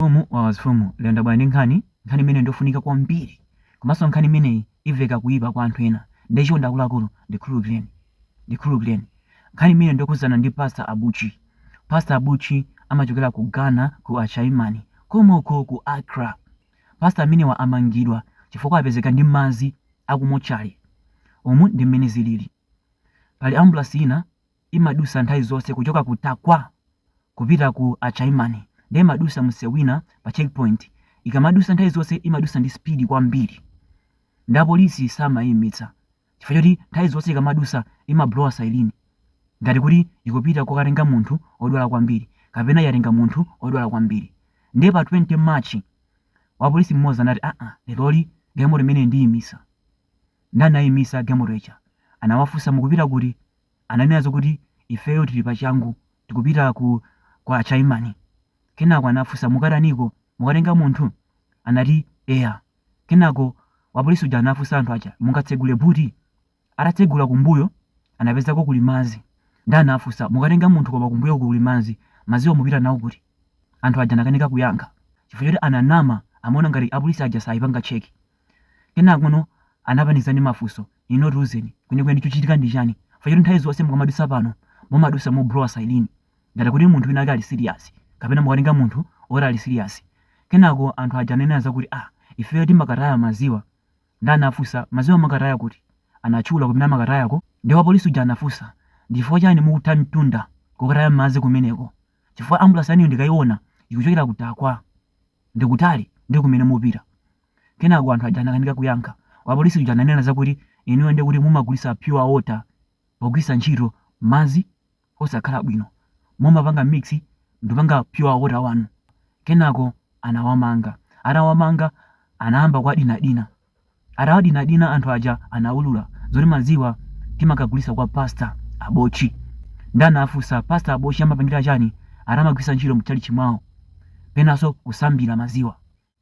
Mfumu wawa mafumu lero ndabwera ndi nkhani, nkhani imeneyi ndiyofunika kwambiri komanso nkhani imeneyi iveka kuipa kwa anthu ena nde chonde akuluakulu ndikhululukireni ndikhululukireni nkhani imeneyi ndiyokhudzana ndi pastor Abochi pastor Abochi amachokera ku Ghana ku Ashaiman komoko ku Accra pastor amenewa amangidwa chifukwa apezeka ndi madzi akumotchale umu ndi mmene zilili pali ambulasi ina imadusa nthawi zonse kuchoka ku Tarkwa kupita ku Ashaiman nde imadusa mseu wina pa checkpoint ikamadusa nthawi zonse imadusa ndi speed kwambiri nde a police samaimitsa chifukwa choti nthawi zonse ikamadusa imablowa siren ngati kuti ikupita kokatenga munthu odwala kwambiri kapena yatenga munthu odwala kwambiri nde pa 20 March wapolisi mmodzi anati aa lero galimoto imene ndiimisa nde anaimitsa galimoto ija anawafunsa mukupita kuti ananena zakuti, Ifeyo tili pachangu, tikupita ku Ashaiman. Kenako anafunsa, Mukataniko? Mukatenga munthu? Anati, Eya. Kenako wapolisi uja anafunsa anthu aja, Mungatsegule buti? Atatsegula kumbuyo, anapezako kuli madzi. Ndiye anafunsa, Mukatenga munthu koma kumbuyoku kuli madzi, madziwa mupita nawo kuti? Anthu aja anakanika kuyankha chifukwa choti ananama, amaona ngati apolisi aja saipanga cheki. Kenakono anawapanikiza ndi mafunso, Inu tiuzeni kwenikweni chikuchitika ndichani chifukwa choti nthawi zonse mukamadusa pano mumadusa moblowa siren ngati kuti munthu wina wake ali serious kapena mukatenga munthu oti ali serious kenako anthu aja ananena zakuti ah ifeyo timakataya maziwa nde anafusa maziwa mumakataya kuti anatchula kumene amakatayako nde wapolisi uja anafusa ndichifukwa chani mukutha mtunda kokataya madzi kumeneko chifukwa ambulasi yanuyo ndikaiona ikuchokera ku Tarkwa ndikutali nde kumene mukupita Kenako anthu aja anakanika kuyankha. Wapolisi uja ananena zakuti, Inuyo ndiye kuti mumagulitsa pure water pogwiritsa ntchito madzi osakhala bwino. Mumapanga mix ndikupanga pure water wanu. Kenako anawamanga. Atawamanga anayamba kuwadinadina. Atawadinadina anthu aja anaulula zoti madziwa timakagulitsa kwa Pastor Abochi. Ndiye anafunsa Pastor Abochi amapangira chani ati amagwiritsa ntchito mutchalitchi mwawo penanso kusambira madziwa.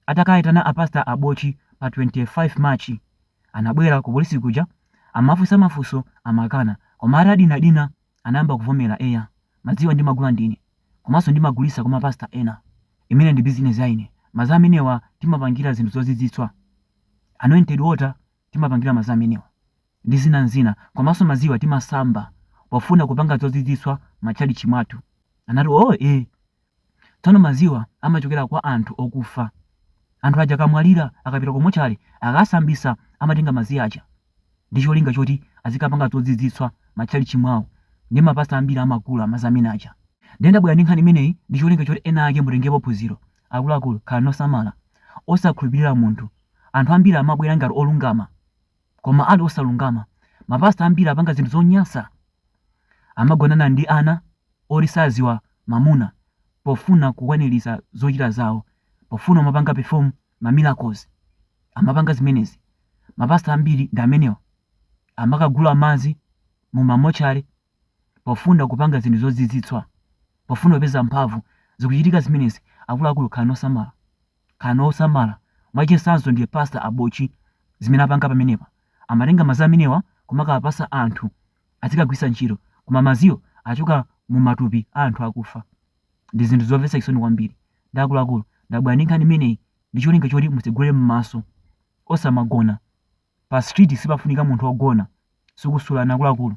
Atakawaitana a pastor Abochi pa 25 March anabwera ku polisi kuja anawafunsa mafunso amakana koma atawadinadina anayamba kuvomera eya madziwa ndimagula ndine komanso ndimagulitsa kwa ma pastor ena imene ndi business ya ine madzi amenewa timapangira zinthu zozizwitsa anointed water timapangira madzi amenewa ndi zina ndi zina komanso madziwa timasamba pofuna kupanga zozizwitsa m'matchalitchi mwathu anati oh eh Tsono maziwa amachokera kwa anthu okufa. Anthu aja akamwalira, akapita ku motchale, akasambisa amatenga madzi aja ndi cholinga choti azikapanga zozizwitsa matchalitchi mwawo. Ndiye mapastor ambiri amagula madzi amene aja. Ndiye ndabwera ndi nkhani imeneyi ndi cholinga choti ena ake mutengepo phunziro. Akuluakulu, khalani osamala. Osakhulupirira munthu. Anthu ambiri amabwera ngati olungama. koma ali osalungama. Mapastor ambiri apanga zinthu zonyansa. Amagonana ndi ana oti saziwa mamuna pofuna kukwanirisa zochita zawo, pofuna kumapanga perform ma miracles. Amapanga zimenezi. Mapastor ambiri ndi amenewa. Amakagula madzi mu ma mortuary pofuna kupanga zinthu zozizwitsa, pofuna kupeza mphamvu. Zikuchitika zimenezi. Akuluakulu khalani osamala. Khalani osamala, mwachitsanzo ndi pastor abochi zimene apanga pamenepa amatenga mazi amenewa kumakawapasa anthu azikagwisa ntchito koma maziwo achokera mumatupi a anthu akufa ndizinthu zomvesa chisoni kwambiri nde akuluakulu ndabwera ndi nkhani imeneyi ndicholinga choti mutsegule mmaso osamagona pa street sipafunika munthu ogona sukusulani akuluakulu